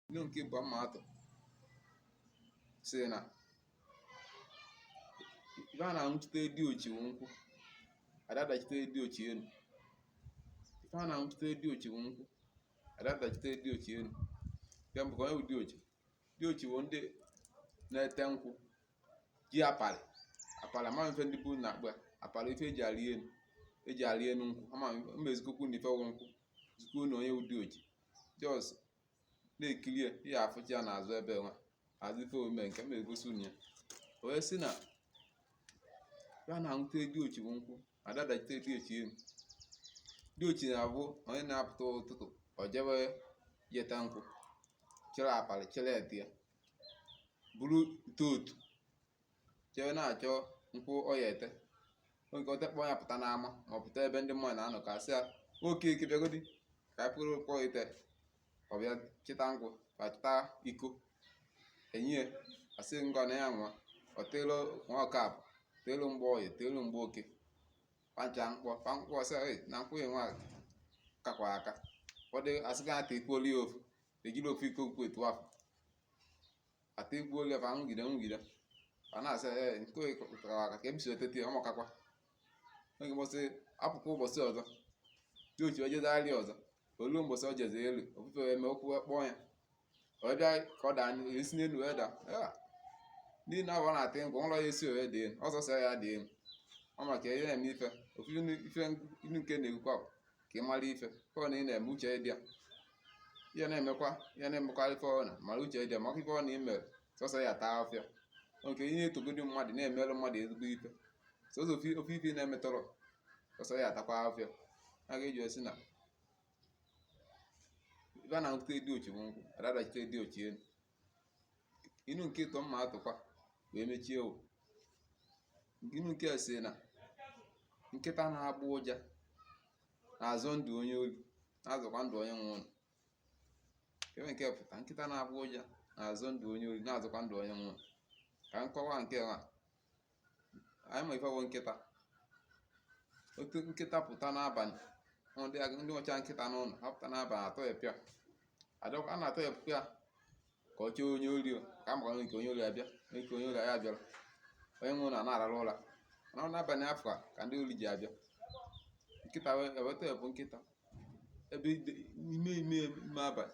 Inu nke ịbụa m ma-atụ sị na ife a na-aṅụchite diochi wụ nkwụ a da-adachite diochi enu ife a na-aṅụchite diochi wụ nkwụ a da-adachite diochi enu nke mbụ kee onye wụ diochi diochi wụ ndị na-ete nkwụ ji apalị apalị ama m ife ndị be unu na-akpọ ya apalị ife e ji arị enu e ji arị enu nkwụ ama m ma-ezikwu unu ife wụ nkwụ zikwu unu onye wụ diochi just na-ekiri ya ị ya-afụcha ya n'azụ ebe nwa azịfe omume nke m egosi unu ya o wee sị na ife a na-aṅụchite diochi bụ nkwụ a da-adachite diochi enu diochi na-abụ onye na-apụta ụtụtụ o jebe ije ete nkwụ chịrị apalị chịrị ete ya buru ite otu jee na-achọ nkwụ ọ ya-ete oge o tekpọ ya pụta n'ama ma ọ pụta ebe ndị mmadụ na-anọ ka a sị ya Okeke bịagodi ka anyị pụrụ kpọọ ite ọ bịa chịta nkwụ ka chịta iko e nye ya asị ṅụọ na ya nwa ọ teelu Nwokafọ teelu Mgbọye teelu Mgbeke pancha nkwọ pa nkwọ sị "Ei, na nkwụ ya nwa kakwa aka ụfọdụ asị ka a takwuolu ya ofu ejirọ ofu iko nkwụ etu afọ a takwuolu ya ofu fa ṅụgide ṅụgide fa na-asị ee nke a kara aka ka ebisi otete ọ makakwa oge mbọsị apụkwa ụbọchị ọzọ diochi ojezagharị ọzọ o lu mbọsị ọ jeze elu ofu ife wee mee ụkwụ wee kpọọ ya ọ bịa ka ọ daa o si n'elu wee daa "Ah, ndị na ọ na-ata nkwụ ụlọ ya esorọ ya da elu ọ sọsọ ya da elu ọ maka ihe na-eme ife ofu ife ilu nke a na-ekwukwa bụ ka ị mara ife ọbụna ị na-eme uche dị ya ihe na-emekwa ihe na-emekwa ife ọbụna mara uche dị ya maka ife ọbụna i mere sọsọ ya taa afịa nke ihe etogodi mmadụ na-emerụ mmadụ ezigbo ife sọsọ ofu ofu ife ị na-emetọrọ sọsọ ya atakwa afịa ya ka e ji wee sị na ife a na-aṅụchite diochi bụ nkwụ a da-adachite diochi elu inu nke ịtọ m ma-atụkwa wee mechie o inu nke a sị na nkịta na-agba ụja na-azọ ndụ onye ori na-azọkwa ndụ onye nwe ụlọ kee ife nke a pụta nkịta na-agba ụja na-azọ ndụ onye ori na-azọkwa ndụ onye nwe ụlọ ka nkọwa nke a anyị ma ife bụ nkịta otu nkịta pụta n'abalị ndị ag- ndị ọcha nkịta n'ụlọ a pụta n'abalị a tọghepụ ya Adọ- a na-atọghepụ ya ka ọ chụọ onye ori o, ka a makwana nke onye ori abịa nke onye ori ya bịara onye nwe ụlọ na-arara ụra mana n'abalị afụ ka ndị ori ji abịa nkịta e wee tọghepụ nkịta ebe ide- ime ime ime abalị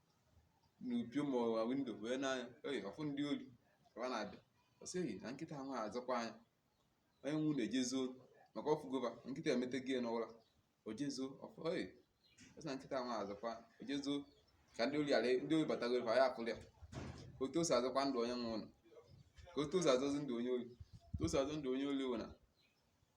na mpio ma ọ na windo wee nee anya oyi ọ fụ ndị ori ka ọ na-abịa ọ sị ehi na nkịta ahụ azọkwa anya onye nwe ụlọ ejee zoo maka ọ fụgo va nkịta emete gị n'ụra o jee zoo ọ fụ ori ọ sị na nkịta ahụ azọkwa o jee zoo ka ndị ori ghara ndị ori batago ebe ya afụrụ ya otu o si azọkwa ndụ onye nwe ụlọ ka otu o si azọzi ndụ onye ori otu o si azọ ndụ onye ori wụ na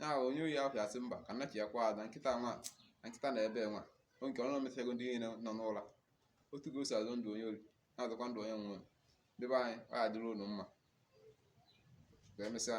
ya ahụ onye ori ahụ asị mba ka nna chi ya kwa na nkịta nwa na nkịta na ebe nwa o nke ọ na-emechago ndị niile nọ n'ụra otu ka o si azọ ndụ onye ori na-azọkwa ndụ onye nwe ụlọ ndị be anyị ọ ya dịrị unu mma ka emesịa